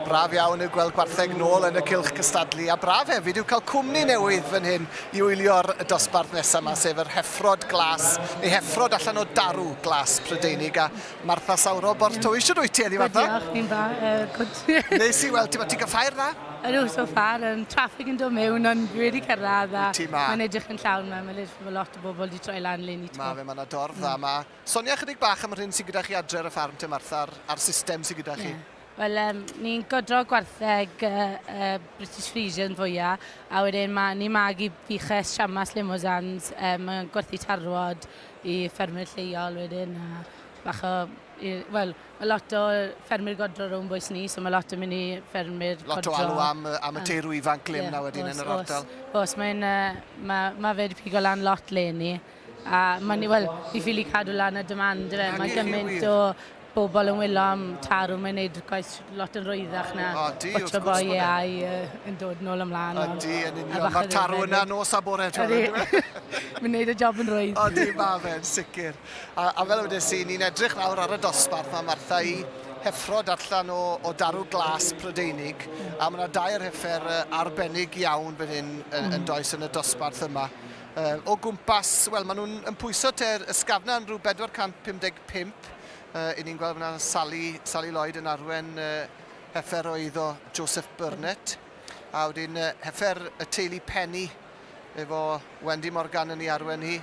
Braf iawn yw gweld gwartheg nôl yn y cylch cystadlu, a braf hefyd yw cael cwmni newydd fan hyn i wylio'r dosbarth nesaf 'ma, sef yr heffrod glas, neu heffrod allan o darw glas Prydeinig, a Martha Sawro, Borthtowy. Shwd wyt ti heddi, Martha? Good, diolch, fi'n dda, uh, good. Nes i weld ti, ti'n cael ffair dda? Ydw, so far, yn traffig yn dod mewn, ond dwi wedi cyrraedd a mae'n edrych yn llawn yma, mae'n edrych bod lot o bobl wedi troi lan le ni to. Mae fe, mae yna dorf dda yma. Mm. Sonia chydig bach am yr hyn sy'n gyda chi adre ar y ffarm te Martha, a'r, a'r system sy'n gyda chi. Yeah. Wel, um, ni'n godro gwartheg uh, uh, British Frisian fwya, a wedyn ma, ni'n magu buches siamas limosans, um, gwerthu tarwod i ffermwyr lleol wedyn, a bach o... Wel, mae lot o ffermwyr godro rhwng bwys ni, so mae lot yn mynd i ffermwyr lot godro. Lot o alw am, am y teirw ifanc le yeah, na wedyn yn yr ardal. Os, os mae'n... Uh, mae, mae fe wedi pigo lan lot le ni. A mae'n ni, wel, fi ffili cadw lan y demand, yfe. Mae gymaint o bobl yn wylo am tarw, mae'n neud gwaith lot yn rwyddach na o, di, botio boi e ai yn dod nôl ymlaen. A di, yn union. Mae'r tarw yna nos a bore. Ydy. Mae'n neud y job yn rwydd. O, di, mae fe'n sicr. A, a fel ydych chi, ni'n edrych nawr ar y dosbarth mae Martha i heffrod allan o, o darw glas Prydeinig, a mae yna dair heffer arbennig iawn fan hyn yn, yn mm. does yn y dosbarth yma. Yy, o gwmpas, wel, maen nhw'n yn pwyso te'r ysgafnau'n rhyw 455. Yy, i ni'n gweld fyna Sally, Sally Lloyd yn arwen yy, heffer o eiddo Joseph Burnett. A wedyn yy, heffer y teulu Penny efo Wendy Morgan yn ei arwen hi.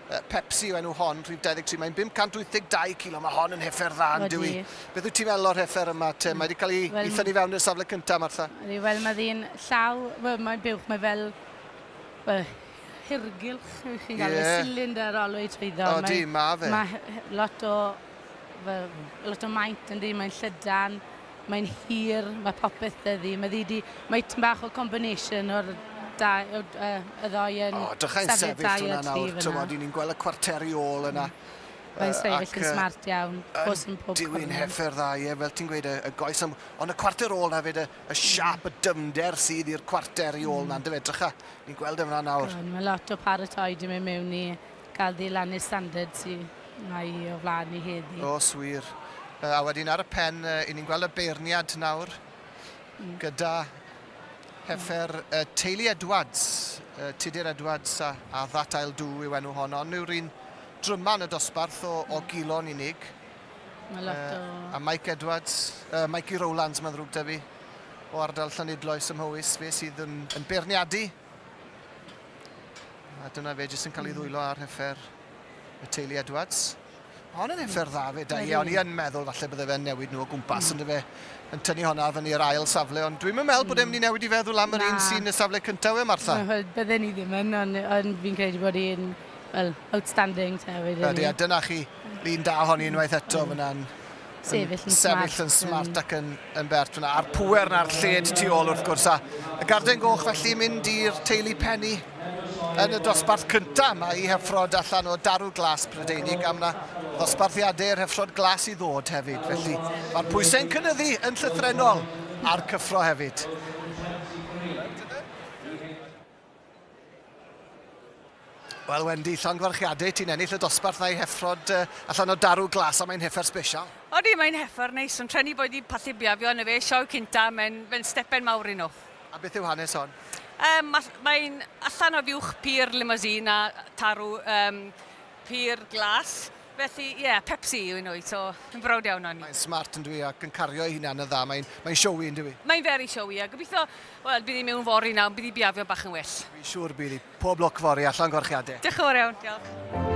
Yy, Pepsi yw enw hon, rhif 23. Mae'n 582 kilo, mae hon yn heffer dda, yn dyw Beth wyt ti'n meddwl o'r heffer yma te? Mae wedi cael ei, well, ei thynnu fewn i'r safle cyntaf, Martha. Wel, mae ddyn llaw, wel, mae'n buwch, mae fel Wel, hirgylch, chi'n galw fe, cylinder olwyn swyddog. O, di, ma fe. Mae lot o, fel, lot o maint yn di, mae'n llydan, mae'n hir, mae popeth dyddi. Mae ddi di, mae ti'n bach o combination o'r da, o, uh, y ddoi yn... O, dychau'n sefyll hwnna nawr, tywod, ni'n gweld y cwarteri ôl yna. Mm. Mae'n uh, sefyll yn smart iawn, pwys yn pob Diwi'n heffer dda, ie, fel ti'n gweud, y, y goes am... Ond y cwarter ôl na fyd, y, y siap, y dyfnder sydd i'r cwarter i ôl na, yndyfe? Drycha, ni'n gweld e'n fan nawr. Wel, mae lot o paratoi di mynd mewn i gael ddilannu standard sy mae i o flaen ni heddi. O, swir. A wedyn ar y pen, i ni'n gweld y beirniad nawr mm. gyda heffer uh, teulu Edwards, uh, Tudur Edwards a, a That I'll Do yw enw hon, ond yw'r un dryman y dosbarth o, o gilon unig. Mae lot o... Uh, a Mike Edwards, uh, Mikey Rowlands, mae'n ddrwg da fi, o ardal Llanidloes ym Mhowys, fe sydd yn, yn beirniadu. A dyna fe jyst yn cael ei hmm. ddwylo ar heffer y teulu Edwards. Ond yn effer dda fe, da i, ond i yn meddwl falle bydde fe'n newid nhw o gwmpas, mm. ond fe yn tynnu honna fan i'r ail safle, ond dwi'n meddwl bod e'n mynd i newid i feddwl am yr un sy'n y safle cyntaf e, Martha. Wel, bydden ni ddim yn, ond, ond fi'n credu bod e'n Wel, outstanding te wedyn ni. Ydy, a dyna chi, lun da honi unwaith eto mm. fyna'n sefyll yn sefyll yn smart ac yn, yn bert fyna. A'r pwer na'r lled tu ôl wrth gwrs. A y garden goch felly mynd i'r teulu penny yn y dosbarth cyntaf. Mae i heffrod allan o darw glas Prydeinig am na ddosbarthiadau yr heffrod glas i ddod hefyd. Felly mae'r pwysau'n cynnyddu yn llythrenol a'r cyffro hefyd. Wel Wendy, llongyfarchiadau, ti'n ennill y dosbarth na'i heffrod uh, allan o darw glas, a mae'n heffer sbesial. Odi, mae'n heffer neis, ond trenu bod i pallu biafio yn y fe sioe cynta, mae'n fe stepen mawr i nhw. A beth yw hanes hon? Um, mae'n allan o fiwch pur limousine a tarw um, pur glas, Felly, ie, Pepsi yw un wyt, so fi'n browd iawn ohoni. Mae'n smart yn dwi ac yn cario ei hunan yn dda, mae'n mae showy yn dwi. Mae'n very showy a gobeithio, wel, bydd hi mewn fory nawr, bydd hi biafio bach yn well. Fi siwr bydd hi, pob lwc fory a llongyfarchiadau. Diolch yn fawr iawn, diolch.